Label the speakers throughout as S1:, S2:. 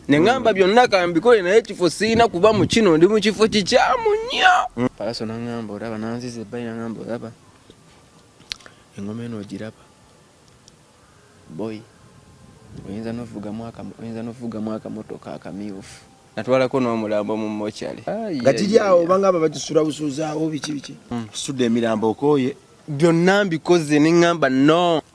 S1: ne ngamba byonna kambikole naye ekifo sirina kuba mu kino ndi mu kifo kikyamu nnyo palaso nangamba olaba nanziza ebbali nangamba olaba engoma eno ogiraba boy oyinza novuga mwaka motoka akamyufu natwalako n'omulambo mu mochali nga kiri awo
S2: obanga aba bakisula busuuzaawo biki biki hmm. sudde emirambo okooye byonna mbikoze
S1: ne ngamba no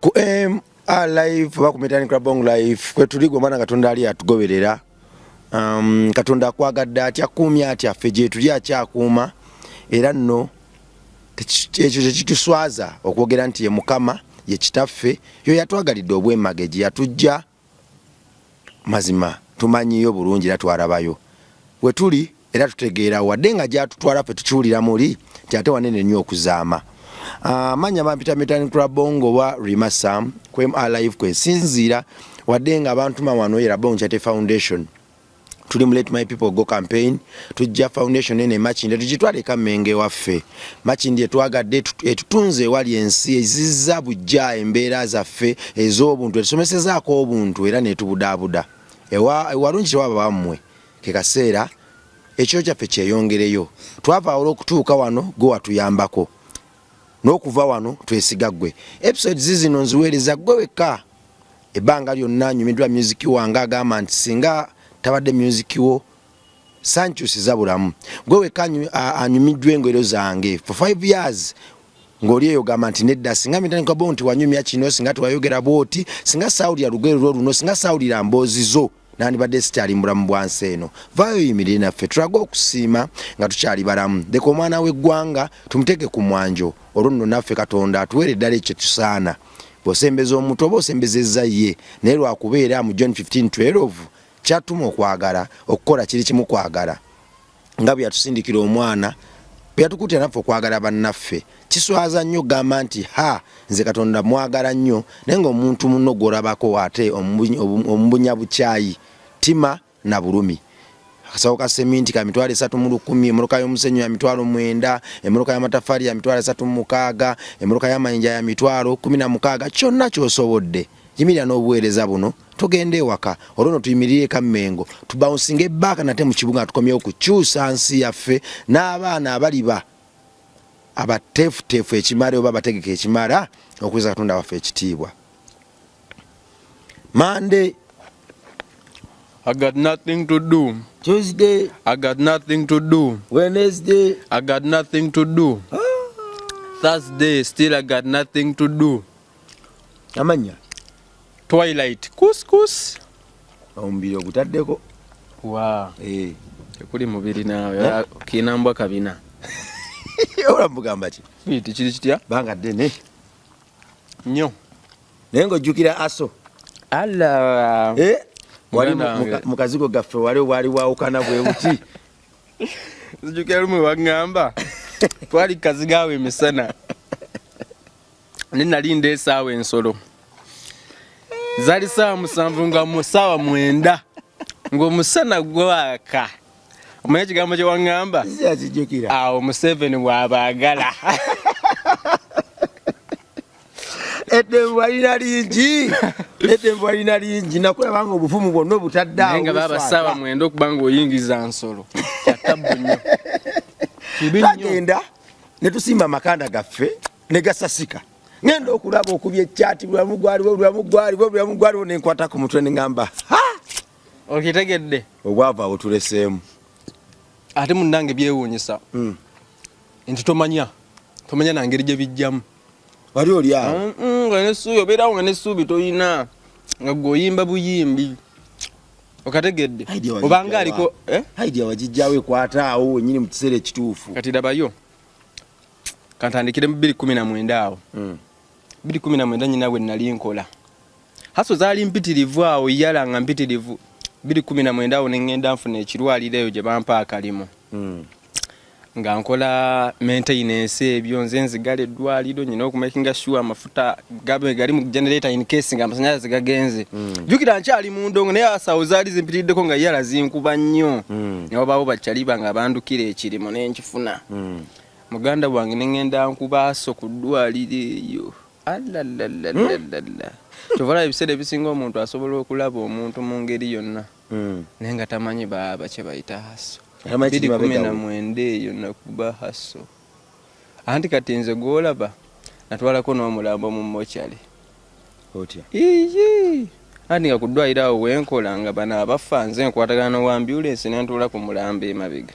S2: ku MR live oba ku Mitan Club Bong live kwetuli gwe mwana Katonda ali atugoberera um, Katonda akwagadde atya kuumya atya ffe gyetuli akyakuuma era nno ekyo kyekituswaza okwogera nti ye Mukama ye Kitaffe yo yatwagalidde obwemage gye yatujja mazima tumanyiyo bulungi era twarabayo wetuli era tutegeera wadde nga gyatutwala fe tukiwulira muli nti ate wanene nnyo okuzaama ah, manya bampita metan krabongo oba rima sam kwem alive kwesinziira wadde nga bantuma wano era bonkyate foundation tuli mu let my people go campaign tujja foundation ene makinde tugitwale ka menge waffe makinde etwagadde etutunze ewali ensi ezizza bujja embeera zaffe ez'obuntu etusomesezaako obuntu era netubudaabuda ewalungi tewaba bammwe ke kaseera ekiro kyaffe kyeyongereyo twava ola okutuuka wano gwe watuyambako n'okuva wano twesiga ggwe episode zizino nziweereza ggwe wekka ebbanga lyonna nyumidwa music wange agamba nti singa tabadde music wo sankyusiza bulamu gwe weka anyumidwa engwero zange for 5 years ngoli eyo gamba nti nedda singa mitandika bo nti wanyumya kino singa twayogera bwoti singa sawulira lugero lwo luno singa sawulira mbozi zo nandibadde sikyali mubulamu bwa nsi eno vaayo yimirire naffe tulage okusiima nga tukyali balamu leka omwana w'eggwanga tumuteeke ku mwanjo olwo nno naffe katonda atuweere eddala ekyo tusaana bw'osembeza omuntu oba osembezezza ye naye lwakubeera mu john 1512 kyatuma okwagala okukola kiri kimu kwagala nga bwe yatusindikira omwana bwe yatukuutira naffe okwagala bannaffe kiswaza nnyo okugamba nti ha nze katonda mwagala nnyo naye ngaomuntu munno gwolabako ate omubunya bukyayi tima na bulumi akasawo ka seminti ka mitwalo esatu mu lukumi emoloka y'omusenyu ya mitwalo mwenda emoloka y'amatafaali ya mitwalo esatu mu mukaaga emoloka y'amayinja ya mitwalo kumi na mukaaga kyonna kyosobodde yimirira n'obuweereza buno tugende ewaka olwo no tuyimirire ka Mengo tubawunsinge baaka nate mu kibuga nga tukomyewo kukyusa nsi yaffe n'abaana abaliba abateefuteefu ekimala oba abategeka ekimala okuweza katonda waffe ekitiibwa Monday I
S1: got nothing to do. Tuesday. I
S2: got nothing
S1: to do. Wednesday. I
S2: got nothing
S1: to do. Ah. Thursday, still I got nothing to do. amanya twilight kuskus omubiri
S2: ogutaddeko wa eh.
S1: tekuli mubiri nawe eh? kinambwa kabina
S2: olamugamba ki biti kiri kitya banga
S1: ddene nyo naye
S2: ngaojjukira aso alla
S1: eh?
S2: wali mukazigo gaffe wali wali wawukana bwe buti
S1: zijukira lumu wagamba twali kazigawo emisana ne nalinda esaawa ensolo zali saawa musanvu nga musaawa mwenda ng'omusana gwaka omanya ekigambo kyewaŋŋamba awo museveni bw'abaagala
S2: eddembo balina lingi eddembo balina lingi nakulaba nga obuvumu bwonna obutaddeawo nga baba saawa
S1: mwenda okuba nga oyingiza nsolo kyatabu nnyo tagenda
S2: ne tusimba amakanda gaffe ne gasasika ngenda okulaba okubya ekyati bulamu gwaliwo bulamu gwaliwo bulamu gwaliwo ne nkwata ku mutwe ne ŋamba
S1: okitegedde obwava awo
S2: tuleseemu
S1: ate munnange byewuunyisa hmm. nti tomanya tomanya na ngeri gye bijjamu wali oli
S2: awo mm, mm, nga nesuubi obeerawo
S1: nga nesuubi tolina nga gwe oyimba buyimbi okategedde obanga aliko eh? idea wagijjawo
S2: ekwata awo wenyini mu kiseera ekituufu kati dabayo
S1: kantandikire mu bbiri kumi na mwenda awo hmm. bbiri kumi na mwenda nyina bwe nali nkola haso zaali mpitirivu awo yala nga mpitirivu bbiri kumi na mwenda awo neŋŋenda nfuna ekirwaliro eyo gye bampa akalimu hmm. nga nkola maintenance ebyo nze nzigala eddwaliro nyina okumakinga sure amafuta gali mu generator in case nga amasanyalaze gagenze hmm. jukira nkyali mu ndongo naye asawo zaali zimpitiriddeko nga yala zinkuba nnyo newabaawo bakyaliba nga bandukira ekirimo nenkifu funa mm. muganda wange nengenda nkubaaso ku ddwaliro eyo alalalalalalala hmm? kyovala ebiseera ebisinga omuntu asobola okulaba omuntu mu ngeri yonna hmm. naye nga tamanyi baaba kye bayita haso biri kumi na mwenda eyo nakuba haso anti kati nze gwolaba natwalako n'omulambo mu mochale iyi anti nga ku ddwaliro awo wenkola nga bano abafa nze nkwatagana n'owambyulensi nentuula ku mulambo emabega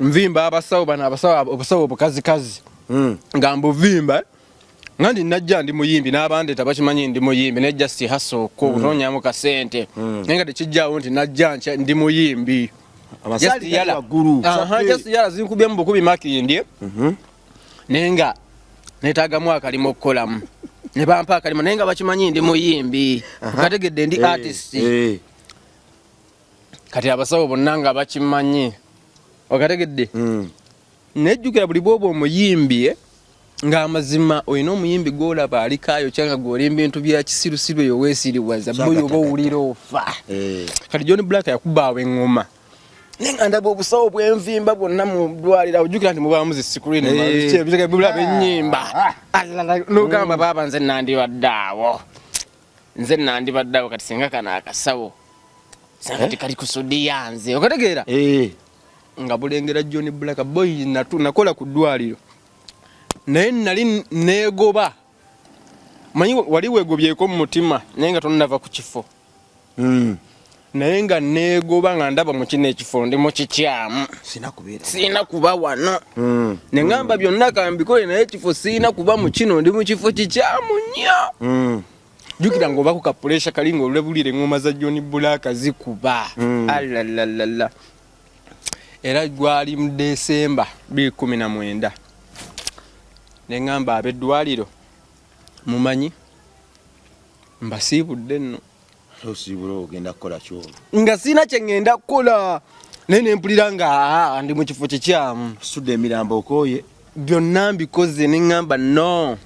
S1: nvimba abasawo bano abasawo obusawo obukazikazi hmm. nga mbuvimba nga ndi najja ndi muyimbi n'abandi tabakimanyi ndi muyimbi naye just haso ko hmm. kunoonyamu kasente hmm. naye nga tekijjaawo nti najja ndi muyimbi
S2: just
S1: yala zinkubye mu bukubi makindi mhm. naye nga netaagamu akalimu okukolamu ne bampa akalimu naye nga bakimanyi ndi muyimbi kategedde ndi eh, artist eh. kati abasawo bonna nga bakimanyi okategedde hmm. nejjukira buli bwoba omuyimbi eh, ng'amazima olina omuyimbi gwolaba alikaayo kyanga gwoli mbintu bya kisirusiru eyo weesiriwaza boyo oba owulira ofa eh. kati john black yakubaawo eŋŋoma naye nga ndaba obusawo bwenvimba bwonna mu ddwaliro ojjukira nti mubaamu zi sikuriinbulaba eh. ennyimba ah. nogamba baaba nze nandibaddaawo nze nandibadde awo kati singa kano akasawo singa kati eh? kali kusudiya nze okategeera eh. nga bulengera john black boy natu nakola ku ddwaliro naye nali negoba manyi wali wegobyeko mu mutima naye nga tonava ku kifo hmm. naye nga neegoba nga ndaba mu kino ekifo ndi mu kikyamu sirina kuba wano mm. ne ŋamba byonna kambikole naye ekifo sirina kuba mu kino ndi mu kifo kikyamu nnyo mm. jukira nga obako kapuresha kali nga olulebulira eŋoma za joni bulaaka zikuba mm. alalala era gwali mu desemba 29 ne ŋamba abeddwaliro mumanyi mbasiibudde nno
S2: nga sirina kyengenda
S1: kukola naye nempulira nga ah, ah, ndi mu kifo kikyamu sudde emirambo
S2: okooye byonna mbikoze
S1: neŋŋamba no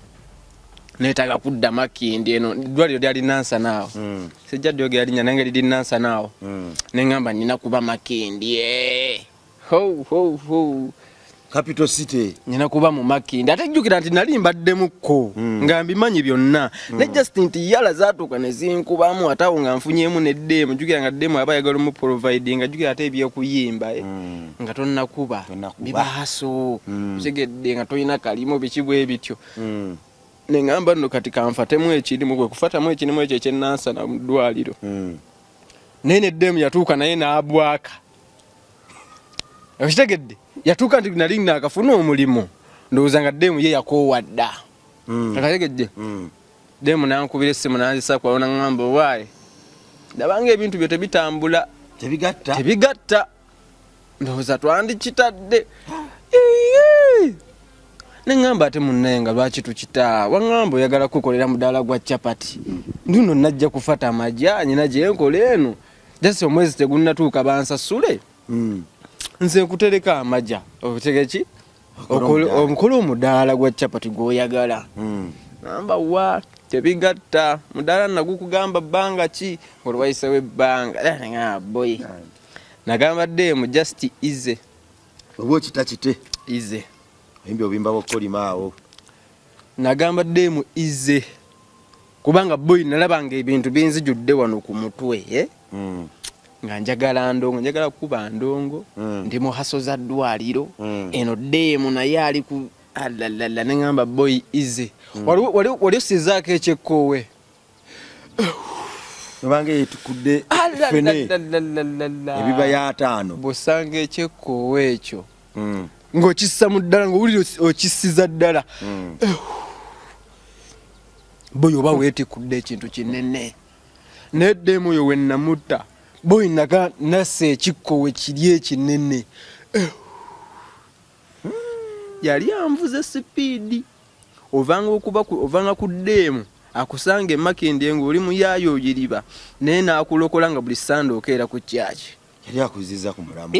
S1: netaaga kudda makindi eno dwaliro lyali nansanaawo hmm. sijja dyogeralinya nange liri nansanaawo hmm. neŋŋamba nina kuba makindi ee eh. Ho, ho, ho.
S2: Capital City. Nina kuba mu maki.
S1: Ndate jukira nti nali mbadde mukko. Mm. Nga mbimanyi byonna. Mm. Ne just nti yala zatuka ne zinkubamu atawo nga nfunyemu ne demo. Jukira nga demo aba yagala mu providing nga jukira ate ebyo kuyimba eh. Mm. Nga tonna kuba. Tonna kuba. Biba haso. Mm. Usegedde nga toyina kalimo bikibwe bityo. Mm. Ne ngamba no kati kanfatemu ekirimu gwe kufatamu ekirimu ekyo ekyenansa na mdwaliro. Mm. Nene demo yatuka naye na abwaka. okitegedde yatuuka nti nali naakafuna omulimu ndowooza nga deemu ye yakoowa dda hmm. akategedde hmm. deemu nankubira essimu nanzisa kwalona ngamba owaaye ndabanga ebintu byo tebitambula tebigatta tebigatta ndowooza twandikitadde neŋamba ate munnaye nga lwaki tukita waŋamba oyagala kukolera mudaala gwa capati nduno najja kufata amajaanyi nagyenkola eno just omwezi tegunnatuuka bansasule hmm. nze nkutereka amaja otegeki omukulu omudaala gwa chapati gwoyagala hmm. namba wa tebigatta mudaala nagukugamba bbanga ki olwayisewo ebbanga eh, boy nagamba demu just ize oba
S2: okitakite ize oyimbi obimba bokukolimaawo
S1: Nagamba
S2: demu ize
S1: kubanga boy nalaba nga ebintu binzijudde wano ku mutwe eh? mm. nga njagala ndongo njagala kuba ndongo mm. ndi mu haso za ddwaliro mm. eno demu naye ali ku alalala ah, nengamba boy ize mm. waliwo wali, wali sizaako ekyekkoowe
S2: obanga yetukudde fene ebiba yataano bwosanga ekyekkoowa
S1: ekyo hmm. ng'okissa mu ddala ng'owulira okissiza ddala hmm. boyo oba weetikudde ekintu kinene naye ddeemu oyo wennamutta boyinaga nasa ekikkowe kiri ekinene yali anvuze sipiidi ovanga okuba ovanga ku ddeemu akusanga emakindye ngaoli muyaayo oyiriba naye naakulokola nga buli sande okeera ku kyaki yali akuziza
S2: ku mulamwa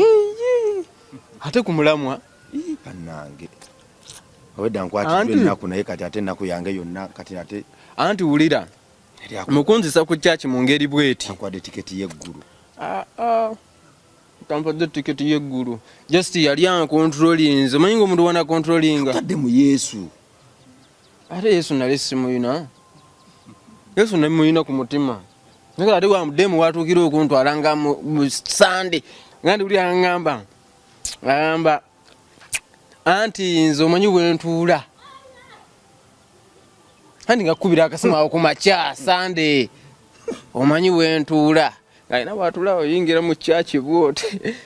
S1: ate ku mulamwa banange
S2: obwedda nkwatidde ennaku naye kati ate ennaku yange yonna kati ate anti wulira
S1: mukunzisa ku kyaki mu ngeri bweti akwade tiketi y'eggulu
S2: ah, ah.
S1: tampadde ticket ye guru just yali an controlling nze manyi ngomuntu wana controlling tadde mu yesu ate yesu nali simuyina yesu nali muyina ku mutima nakala ate wa mudemu watukira okuntwala nga mu sande nga ndi uli angamba angamba anti nze omanyi bwentuula andi ngakukubira akasimu awo ku makya sande omanyi wentuula ngalina watula oyingira mu kyaki bwote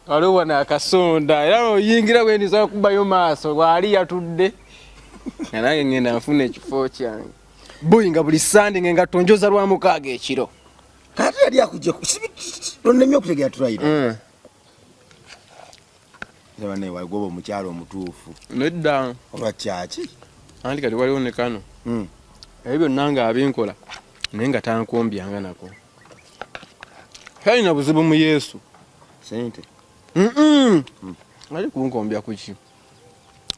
S1: waliwo wano akasonda era oyingira wendiza okubayo maaso waali yatudde nga nange ngenda nfuna ekifo kyange boyi nga buli sande nga engatto njoza lwa mukaaga ekiro kati yali
S2: akujja kusibi tonnemye okutegera tulayira mm. Zabane wagoba omukyalo omutuufu. Nedda.
S1: Oba kyaki?
S2: Anti kati waliwo
S1: ne kano. Mm. Ebyo byonna nga abinkola naye nga tankombyanga nako. Kalina buzibu mu Yesu. Sente.
S2: Mm -mm. Mm.
S1: Ali kunkombya kuki?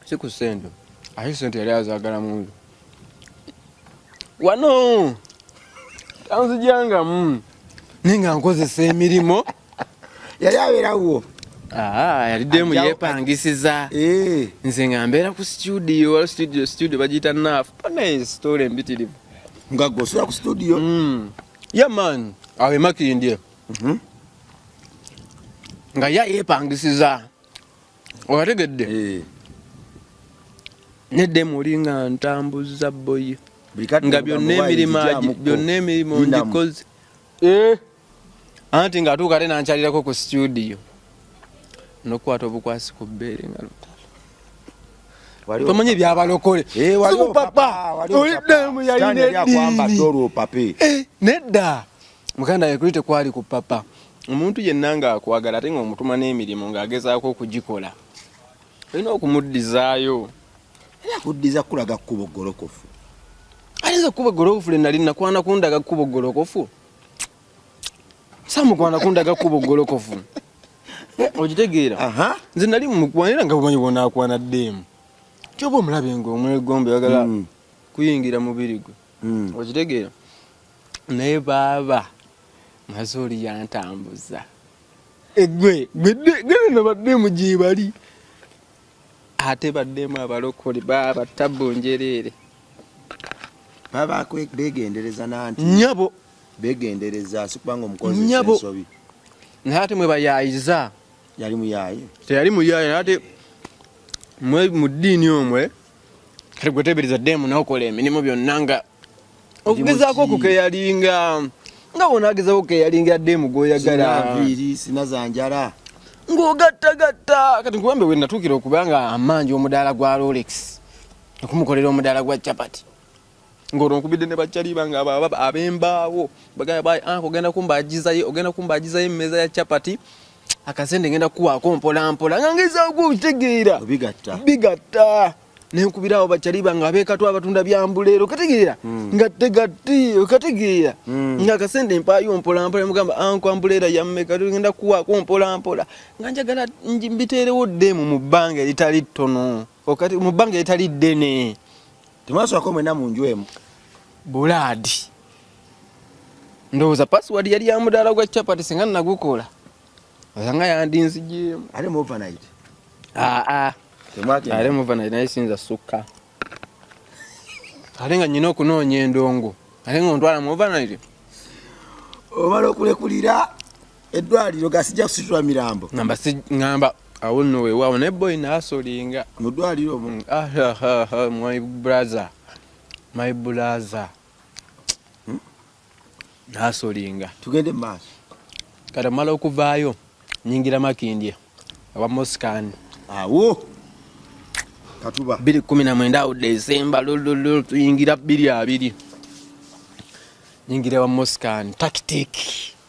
S1: Si ku sente. Ahi sente yali azagala mundu. wano tanzijangamu mm. naye nga nkozesa emirimu yali
S2: abeerawo Ah, yali
S1: demu yepangisiza eh. nze nga mbeera ku studio wala studio studio bagiyita naafu panaye story embitirivu nga gosula
S2: ku studio mm. ye
S1: man awe makindye mhm. nga ya yepangisiza owategedde eh. neddemu oli nga ntambuza boyi nga byonna emirimu byonna emirimu ngikoze eh. anti nga atuuka te nankyalirako ku situdiyo nokukwata obukwasi ku bbeere nga tomanya ebyabalokole eh, sikupapa olidemu yalina eddiini nedda muganda we kuli tekwali ku papa omuntu yenna ng'akwagala ate ng'omutuma n'emirimu ng'agezaako okugikola olina okumuddizaayo era
S2: kuddiza kulaga kkubo ggolokofu ate
S1: nze kkubo eggolokofu lye nali nakwana kundaga kkubo ggolokofu samukwana kundaga kkubo ggolokofu okitegeera nze nali mukwanira nga bumanyi bwonaakwana ddeemu kyoba omulabe ng'omwegombe bagala hmm. kuyingira mubiri gwe hmm. okitegeera naye baaba mazooli yantambuza egwe gweneno baddemu gyebali ate baddemu abalokole baaba tabbu njereere
S2: baba begendereza nanti nyabo
S1: begendereza
S2: sikubanga omukozi ensobi naye ate
S1: mwebayayiza yali muyaye
S2: teyali muyaye naye
S1: ate mwe mu ddiini omwe kati gwetebereza demu nokola emirimu byonna nga okugezaako okukeyalinga nga wona agezaako okukeyalinga demu gwoyagala sinazanjala
S2: ng'ogattagatta
S1: kati nkuwambe we natuukira okuba nga amaanji omudaala gwa rolex okumukolera omudaala gwa chapati ng'olwo nkubidde ne bajjaliba nga abembaawo ogenda kumbagizayo ogenda kumbagizayo emmeeza ya chapati akasente ngenda kuwaako mpolampola nga ngezaako okitegeera bigatta nenkubirawo bacaliba nga abekatwa abatunda byambuleero kategeera hmm. nga tegati okategeera hmm. nga akasente mpaayo mpolampola nemugamba anko ambuleera yammeka tugenda kuwaako mpolampola nga njagala mbiteerewo ddeemu mu bbanga eritali ttono okati mu bbanga etali ddene temwaswako
S2: mwena mu nju emu bulaadi
S1: ndowooza password yali ya mudaala gwa chapati singa nagukola osanga yandinzigyemu ate mu overnight
S2: aa ah, ah.
S1: ate mu overnight naye sinza sukka ate nga nyina okunoonya endongo ate nga ontwala mu overnight
S2: omala okulekulira eddwaliro ga sijja kusitula mirambo ngamba ngamba
S1: awo nno wewaawo naye boyi naasolinga mu ddwaliro omu
S2: mm, ah, ah, ah, my brother
S1: my brother hmm? naasolinga tugende maaso
S2: kati omala
S1: okuvaayo nyingira makindye awa moscan awo
S2: katuba biri kumi na mwenda
S1: awo desemba lululu tuyingira biri abiri nyingira wa moscan tactic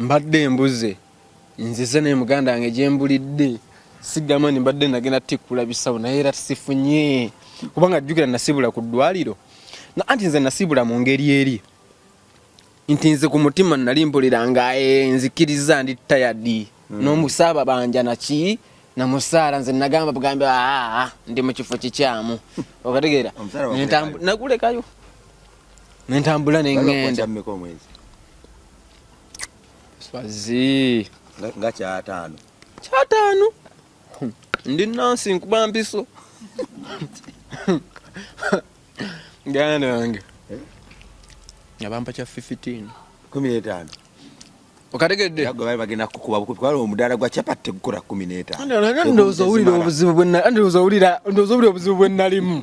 S1: mbadde mbuze nzize naye muganda wange gyembulidde sigamba ni mbadde nagenda tikkula bisawo naye era sifunye kubanga jjukira nasibula ku ddwaliro anti nze nasibula mu ngeri eri nti nze ku mutima nali mpulira nga eh, nzikiriza ndi tayadi mm. n'omusaaba banja naki namusaala nze nagamba bugambi aa ah, ah, ndi mu kifo kikyamu okategeera nagulekayo nentambula nengenda swazi nga
S2: kyataano kyataano
S1: hmm. ndi nansi nkuba mpiso ganda yange eh? nga bampa kya 15 kumi
S2: n'etaano
S1: okategedde bali bagenda
S2: kukuba bukubi kubanga omudaala gwa chapati tegukora kumi n'etaano
S1: ndowooza owulira obuzibu bwe nalimu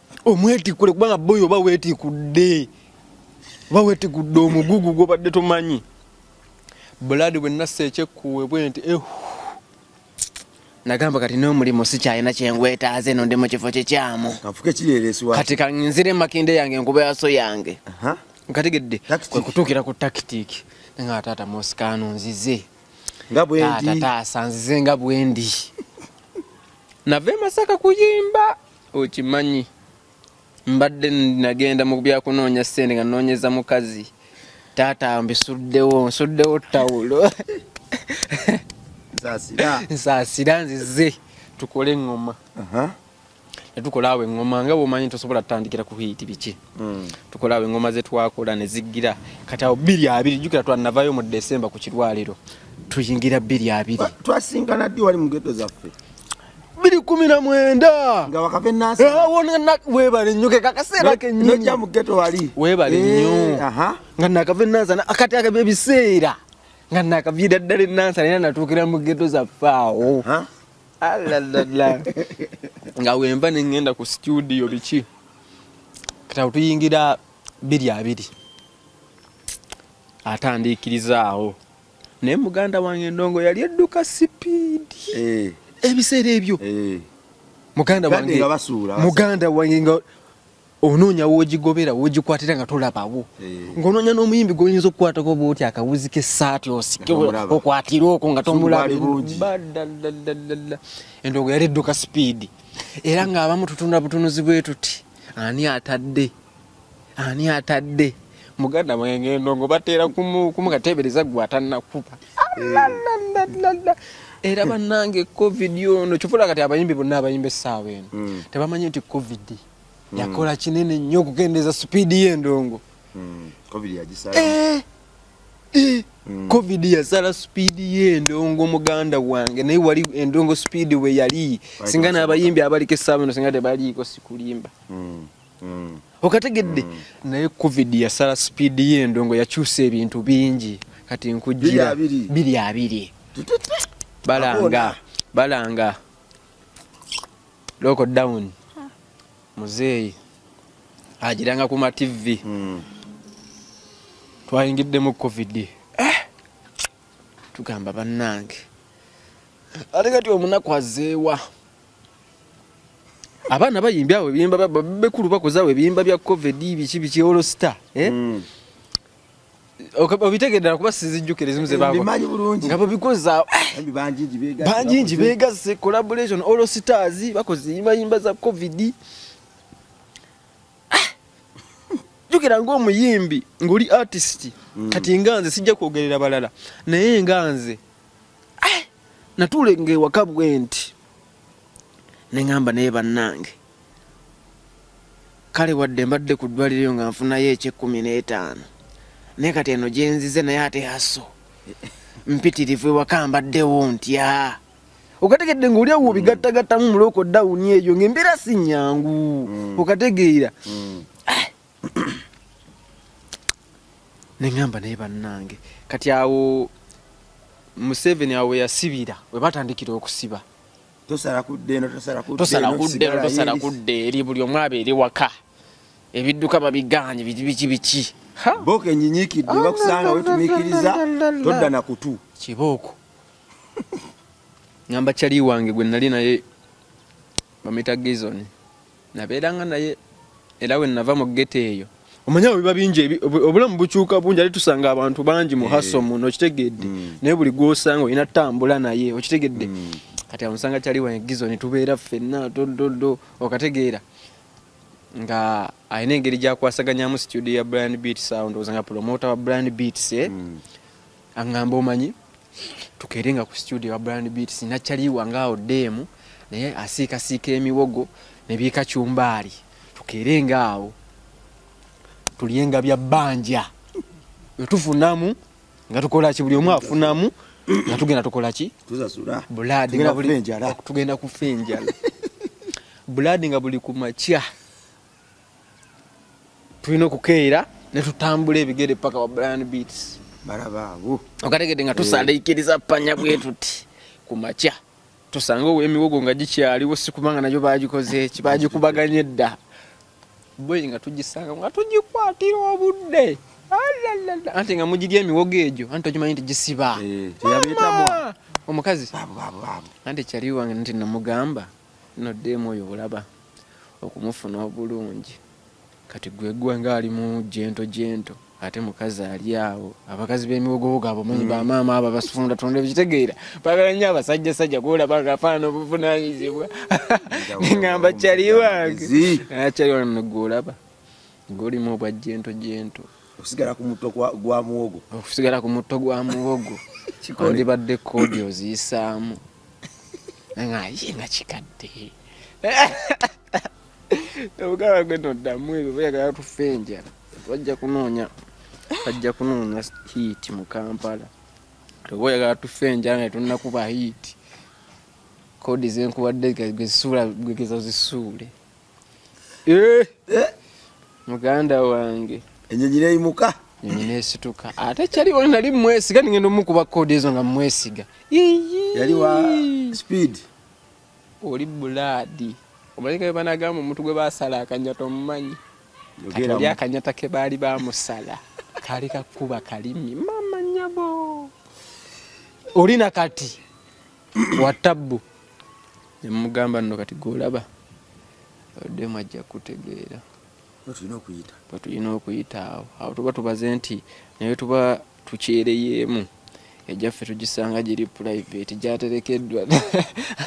S1: omwetikule kubanga boyo oba wetikudde oba wetikudde omugugu gwobadde tomanyi buladi bwe nassa ekyekkuwe bwe nti ehu nagamba kati n'omulimu sikyalina kyengwetaaza eno ndi mu kifo kikyamu kati kanzire makinde yange enkuba yaso yange nkategedde kwekutuukira ku takitiki nga taata mosikaano nzize taata taasa nzize nga bwendi nava emasaka kuyimba okimanyi mbadde nagenda mu byakunoonya ssente nga noonyeza mukazi taata mbisuddewo nsuddewo tawulo nsaasira nzize tukole eŋŋoma netukola awo eŋŋoma nga bwomanyi tosobola tutandikira ku hiiti biki hmm. tukola awo eŋŋoma zetwakola neziggira kati awo bbiri abiri jukira twanavayo mu desemba ku kirwaliro tuyingira bbiri abiri twasingana ddi wali
S2: mu geto zaffe biri kumi na mwenda
S1: nga wakave nasa eh,
S2: wona na webale
S1: nyo ke kakasera ke nyo nyo mu ghetto wali
S2: webale eh, nyo
S1: aha nga nakave nasa na akati aka baby sera nga nakave dadale nasa na natukira mu ghetto za fao ha ala la la nga wemba ne ngenda ku studio bichi kata utuyingira biri abiri atandikirizaawo naye muganda wange endongo yali edduka sipiidi eh. ebiseera ebyo eh. muganda wange muganda wange nga onoonya wogigobera wogikwatira nga tolabawo eh. ng'onoonya n'omuyimbi gwoyinza okukwatako bwoti akawuzi k'essaati osike okwatire okwo nga tomulabaddaddaddaddadda endongo yali edduka sipiidi era ng'abamu tutunda butunuzi bwe tuti ani atadde ani atadde muganda mwenge ndongo bateera kumukateebereza gwe atannakuba eh. era bannange covid ono kyovola kati abayimbi bonna abayimba essaawa eno hmm. tebamanyi nti covid hmm. yakola kinene nnyo okukendeeza sipiidi y'endongo hmm. eh, eh. covid yasala sipiidi y'endongo muganda wange naye wali endongo sipiidi we yali singa n'abayimbi abaliko essaawa eno singa tebaliiko sikulimba mm. okategedde mm. naye covid yasala speed yendongo yakyusa ebintu bingi kati nkujira biri abiri balanga balanga loko down muzeeyi agiranga ku mativi mm. twayingiddemu covid eh! tugamba bannange ate kati omunaku azeewa abaana bayimbi awo ebiyimba bekulu bakozawo ebiyimba bya covid biki biki olosita eh? mm. obitegedera kuba sizijjukira ezimu zebamanyi bulungi nga babikoza eh, banjingi begasse collaboration all stars bakoze yimbayimba za covid eh, jukira ngaomuyimbi ngaoli artist mm. kati nga nze sijja kwogerera balala naye nga nze eh, natulenga ewaka bwenti neŋamba naye bannange kale wadde mbadde ku ddwaliro nga nfunayo ekyekkumi n'etaano naye kati eno gyenzize naye ate aso mpitirivu ewaka mbaddewo ntya okategedde nga oliawo obigattagattamu mulooko dawuni eyo ngaembeera si nyangu mm. okategeera mm. neŋamba naye bannange kati awo museveni awo weyasibira webatandikira okusiba
S2: tosala kudde
S1: eri buli omu aba eri waka ebidduka babiganye biki biki biki boka
S2: enyinyikidde bakusanga wetumikiriza todda na kutu kibooko
S1: ngamba cali wange gwe nali naye bamuyita gizoni nabeeranga naye era we nava mu geto eyo omanyawo biba bingi obulamu bukyuka bungi ali tusanga abantu bangi mu eh. haso muno okitegedde mm. naye buli gwosanga olina tambula naye okitegedde mm. kati amusanga kyali wangizo netubeera ffenna tododo okategeera nga alina engeri gyakwasaganyamu studio ya brand beat sound oza nga promota wa brand beats eh? mm. angamba omanyi tukeere nga ku studio wa brand beats nakyaliwa ngaawo ddeemu naye asiikasiika emiwogo ne byekacumbaali tukeere ngaawo tulyenga bya bbanja nga tufunamu nga tukolaki buli omu afunamu nga tugenda tukolaki bulaadi tugenda kufa enjala bulaadi nga buli ku makya tulina okukeera ne tutambula ebigere paka wa Brian Beats balaba abo
S2: okategedde nga
S1: tusaliikiriza eh. panya bwe tuti ku makya tusanga emiwogo nga gikyaliwo si kubanga nayo bagikoze ki bagikubaganye dda boyi nga tugisanga nga tugikwatira obudde anti nga mugirya emiwogo egyo anti okimanyi nti gisiba eh, omukazi anti ekyaliwange nti namugamba No dem oyo olaba okumufuna obulungi kati gwegwa nga ali mu jento jento ate mukazi ali awo abakazi bemiwogowogo abo manyi mm. bamaama abo abasifunda tonda ekitegeera bagala nnyo abasajja sajja kuolaba nga afaana obuvunanyizibwa ngamba kyali wange akyali ah, wange gwolaba ngolimu obwa jento jento okusigala
S2: ku mutto gwa muwogo okusigala ku mutto gwa muwogo andibadde kodi oziyisaamu
S1: nga ye nga kikadde obugaba gwe noddamu ebyo bayagala tufe enjala bajja kunoonya bajja kunoonya hiit mu kampala oba oyagala tufe enjala naye tunakuba hiit kodi zenkuwadde gezisuula gwegezo zisuule Eh. Eh. muganda wange enyonyi neyimuka
S2: enyonyi nesituka
S1: ate kyali wali nali mwesiga ningenda omukuba kode ezo nga mwesiga yali
S2: wa speed
S1: oli bulaadi omanyi kabe banagamba omuntu gwe basala akanyata omumanyi oli akanyata ke baali bamusala kali kakuba kalimi mama nyabo oli nakati wa tabbu nemugamba nno kati golaba oddemu ajja kutegeera wetulina okuyita awo awo tuba tubaze nti naye tuba tukyereyeemu ejaffe tugisanga giri private gyaterekeddwa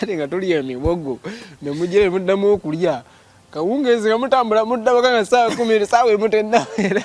S1: ate nga tulya emibogo nemujere muddamu okulya kawungeezi nga mutambula muddabaka nga saawa kumi saawa emutennaera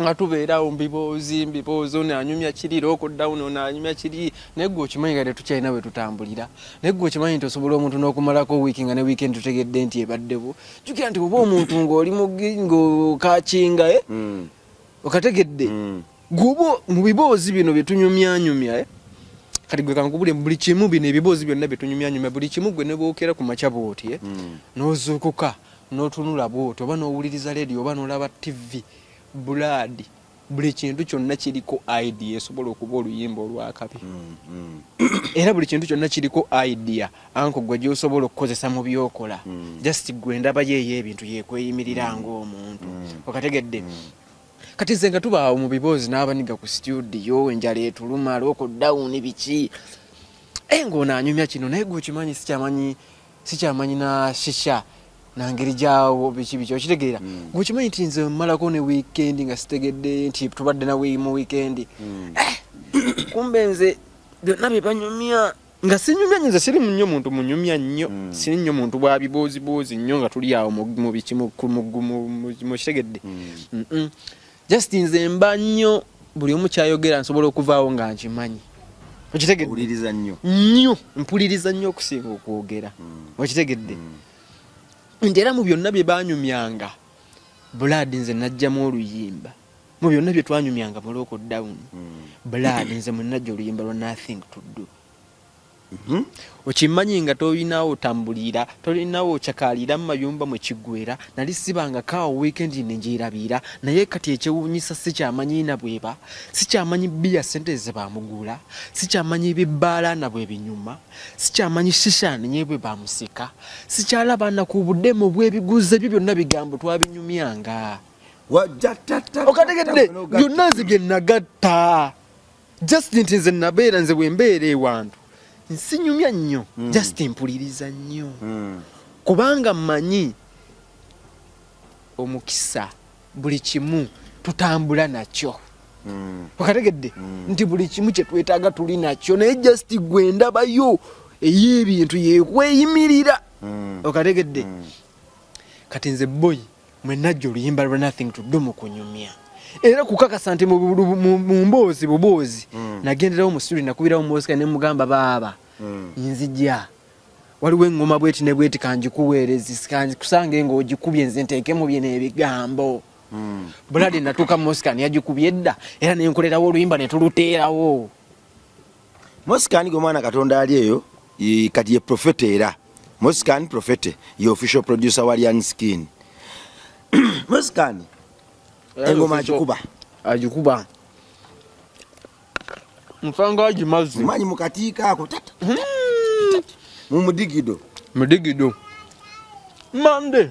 S1: nga tubeerawo mbiboozi mbiboozi ono anyumya kiri lokodawuni ono anyumya kiri naye gwe okimanyi nga tetukyalina we tutambulira naye gwe okimanyi nti osobola omuntu n'okumalako wiiki nga ne wiikendi tutegedde nti ebaddewo jukira nti oba omuntu ng'oli ng'okakinga e eh? hmm. okategedde hmm. gwoba mu biboozi bino bye tunyumyanyumya eh? kati gwe kankubule buli kimu bino ebiboozi byonna bye tunyumyanyumya buli kimu gwe ne bwokera ku makya bwoti eh? hmm. n'ozuukuka notunula bwoti oba nowuliriza leediyo oba nolaba tivi bulaadi buli kintu kyonna kiriko idea esobola okuba oluyimba olwakabi mm, mm. era buli kintu kyonna kiriko idea anko gwe gyosobola okukozesa mu byokola mm. just gwe ndaba yeeyo ebintu yekweyimirira ngaomuntu okategedde kati nze nga tubaawo mu biboozi n'abaniga ku situdiyo enjala etuluma lokodawuni biki e eh, ngaono anyumya kino naye gwe okimanyi sikyamanyi sikyamanyi na shisha nangeri gyawo biki biki okitegeera mm. ngaokimanyi nti nze mmalako ne wiikendi nga sitegedde nti tubadde nawe mu wiikendi mm. eh, kumbe nze byonna bye banyumya nga sinyumya nyo nze siri nnyo muntu munyumya nnyo mm. siri nnyo muntu bwa bibuuzibuuzi nnyo nga tuli awo mu biki mu kitegedde just nze mba nnyo buli omu kyayogera nsobola okuvaawo nga nkimanyi okitegedde nnyo mpuliriza nnyo okusinga okwogera hmm. okitegedde hmm. nti era mu byonna bye banyumyanga bulaadi nze najjamu oluyimba mu byonna bye twanyumyanga mu local down hmm. bulaadi nze mwenajja oluyimba lwa nothing to do Mhm. okimmanyi nga tolinawo otambuliira tolinawo okyakaalira mu mayumba mwe kiggwera nali sibangako awo wiikendi ne ngyerabiira naye kati ekyewuunyisa sikyamanyi na bweba sikyamanyi bbiya ssente ze baamuguula sikyamanyi bibbaala na bwe binyuma sikyamanyi shishaani ye bwe baamusika sikyalaba na ku budemu bw'ebiguzi ebyo byonna bigambo twabinyumyanga okategedde byonna nze bye nagatta just nti nze nabeera nze bwembeera ewantu nsinyumya nnyo mm. just mpuliriza nnyo mm. kubanga mmanyi omukisa buli kimu tutambula nakyo mm. okategedde mm. nti buli kimu kyetwetaaga tuli nakyo naye just gwe ndabayo ey'ebintu yekweyimirira mm. okategedde mm. kati nze boyi mwe najja oluyimba lwa nothing to do mu kunyumya era kukakasa nti mu mboozi buboozi mm. nagenderawo mu studio nakubirawo mosika ne mugamba baaba mm. nzija waliwo engoma bweti ne bweti kanjikuweerezi kusange nga ogikubye nze nteekemu bye n'ebigambo mm. bulade natuuka mosika neyagikubye edda era nenkolerawo oluyimba netuluteerawo
S2: Mosikani gwe mwana Katonda ali eyo kati ye profete era Mosikani profete ye official producer wa Lian Skin. Mosikani engoma agikuba
S1: agikuba mfanga agimazi manyi mukatiika ako
S2: tata hmm. mu mudigido mudigido
S1: mande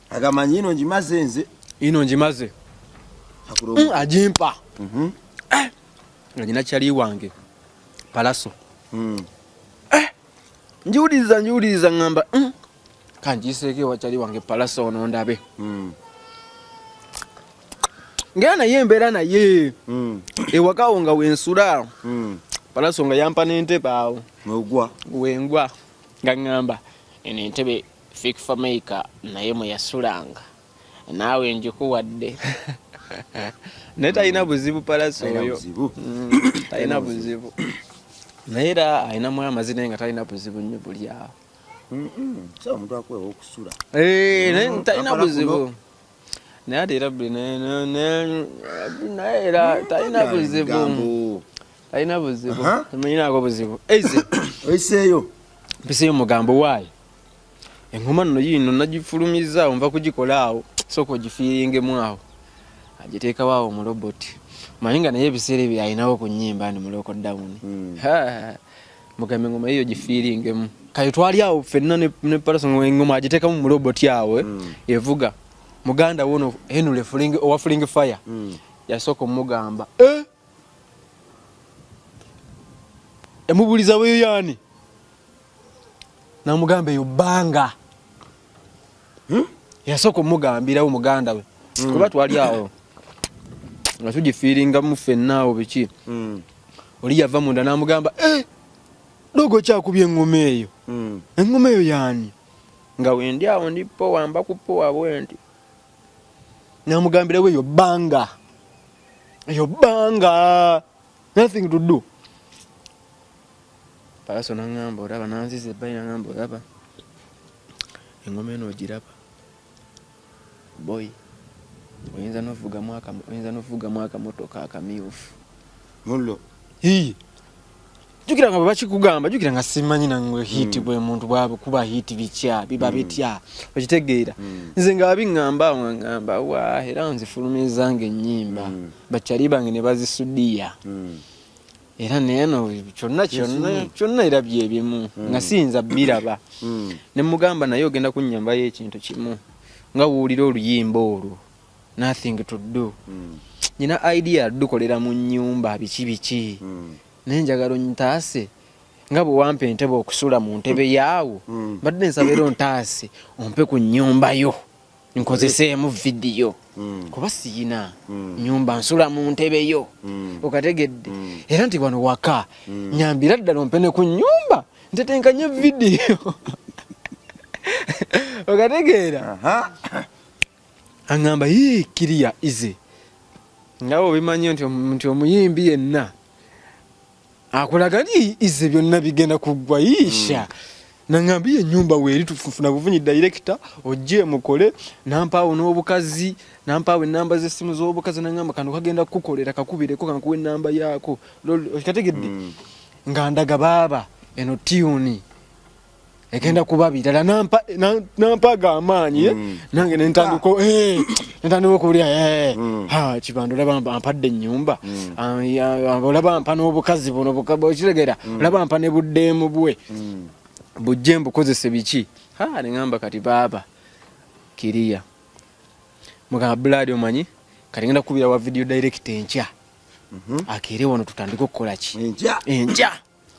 S2: agamba nti ino ngimaze nze ino ngimaze mm,
S1: agimpa mhm. eh, nga nyina kyali wange palaso mm. eh, njiwuliriza njiwuliriza ŋŋamba mm, kanjiiseeko ewa kyali wange palaso ono ndabe ngera naye embeera naye hmm. ewakawo nga wensula hmm. palaso nga yampa n'entebe awo wengwa nga ŋŋamba eno entebe Fik Fameica naye mwe yasulanga naawe njikuwadde naye talina buzibu palasi oyo talina mm, buzibu naye era alinamu amazina nga talina buzibu nnyo buli awo eh, naye mm, talina buzibu naye ate era naye era mm, talina buzibu talina buzibu tamenyinako buzibu eiseyo
S2: mpiseyo
S1: mugambo waayo engoma nno yiino nagifulumizza awo nva kugikola awo sooka ogifiiringemu awo agiteekawo awo mu robot manyi nga naye ebiseera ebyo alinawo ku nyimba ni muloko down hmm. mugambe engoma yiyo gifiiringemu kati twali awo fenna ne paraso engoma agiteekamu mu robot awo eh, hmm. evuga muganda wono henule owa fuling fire hmm. yasooka omugamba eh! emubuliza weyo yani namugamba eyo banga hmm? yasooka omugambirawo muganda we hmm. kuba twali awo nga tugifiiringamu fenna awo biki hmm. oli yava munda namugamba eh, dogo kyakubye engoma eyo engoma eyo yani nga wendi awo ndi powa mba ku powa bwenti namugambirawo eyo banga eyo banga nothing to do palaso nangamba olaba nanziza ebbali nangamba olaba engoma eno ogiraba boy oyinza novugamu akamotoka akamyufu mullo jukira nga bakikugamba jukira nga simanyi nangwe hiti mm. bwe muntu bwabe kuba hiti bitya biba mm. bitya okitegeera mm. nze nga abingamba ngamba wa era nze fulumiza nge nyimba mm. bachali bange ne bazisudia mm. era neno kyonna kyonna kyonna era bye bimu mm. nga sinza biraba mm. ne mugamba naye ogenda kunyamba ye ekintu kimu nga wuulira oluyimba olwo nothing to do mm. nyina idea dukolera mu nyumba biki biki mm. naye njagala onyitaase nga bwe wampa entebe okusula mu ntebe yaawo mm. mbadde nsabeera ontaase ompe ku nyumba yo nkozeseemu vidiyo mm. kuba siyina mm. nyumba nsula mu ntebe yo mm. okategedde mm. era nti wano waka mm. nyambira ddala ompe ne ku nyumba ntetenkanye vidiyo okategeera uh -huh. aŋŋamba yii kiriya ize nga obimanyi nti omuyimbi yenna akulaga nti ize byonna bigenda kuggwa yiisha mm. naŋŋamba ye ennyumba weeri tufuna buvunyi dayirekita ojje mukole nampaawo n'obukazi nampaawo ennamba z'essimu z'obukazi naŋŋamba kano kagenda kukukolera kakubireko kankuwa ennamba yaako kategedde mm. nga ndaga baaba eno tiyuni egenda kuba birala nampa nampa ga amaanyi eh? mm. nange nentandika ah. eh nentandika okulia eh mm. ha kibando laba ampadde nyumba mm. ah, ah, olaba ampa n'obukazi buno bukaba okiregera mm. olaba ampa ne buddeemu bwe mm. bujje mbukozese biki ha ne ngamba kati baba kiria mugamba blood omanyi kati ngenda kubira wa video direct enkya mm -hmm. akere wano tutandika okukola ki enkya enkya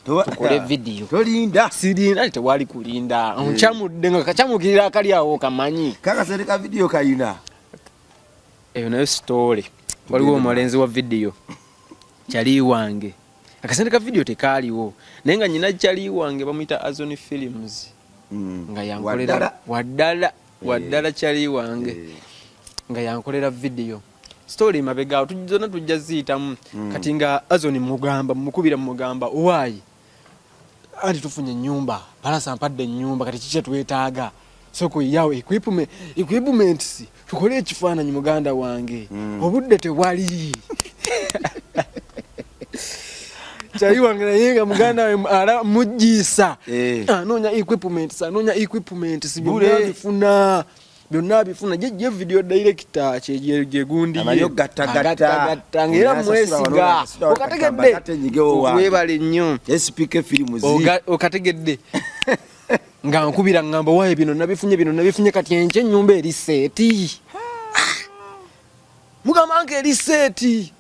S1: tukole video tolinda sirinda
S2: tewali
S1: kulinda eh. ncamudde nga kacamukirira akali awo kamanyi kaka sereka video
S2: kayina
S1: eyo nayo story waliwo omulenzi wa video kyali wange akasente ka video tekaaliwo naye nga nyina kyali wange bamuyita azon films mm. nga yankolera waddala waddala eh. kyali wange eh. nga yankolera video mm. story mabega awo zonna tujja ziyitamu mm. kati nga azoni mugamba mukubira mugamba owaayi anti tufunye ennyumba palasa mpadde ennyumba kati kikye twetaaga soko yawo equipment equipments tukole ekifaananyi muganda wange mm. obudde tewali kyali wange naye nga muganda we ala mujjiisa eh. anoonya equipments anoonya equipments byonna bifuna byonna abifuna ye video director kyegyegundiyegatagatagatta
S2: ngaera mwesiga
S1: okategedde webale nnyo
S2: okategedde
S1: nga nkubira ngamba waye bino nabifunye bino nabifunye kati enky enyumba eri seeti mugamba nga eri seeti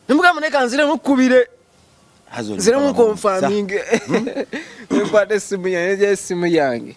S1: nemugamba naye kanzire mukubire nzire mukonfaminge hmm? nkwata esimu yange esimu yange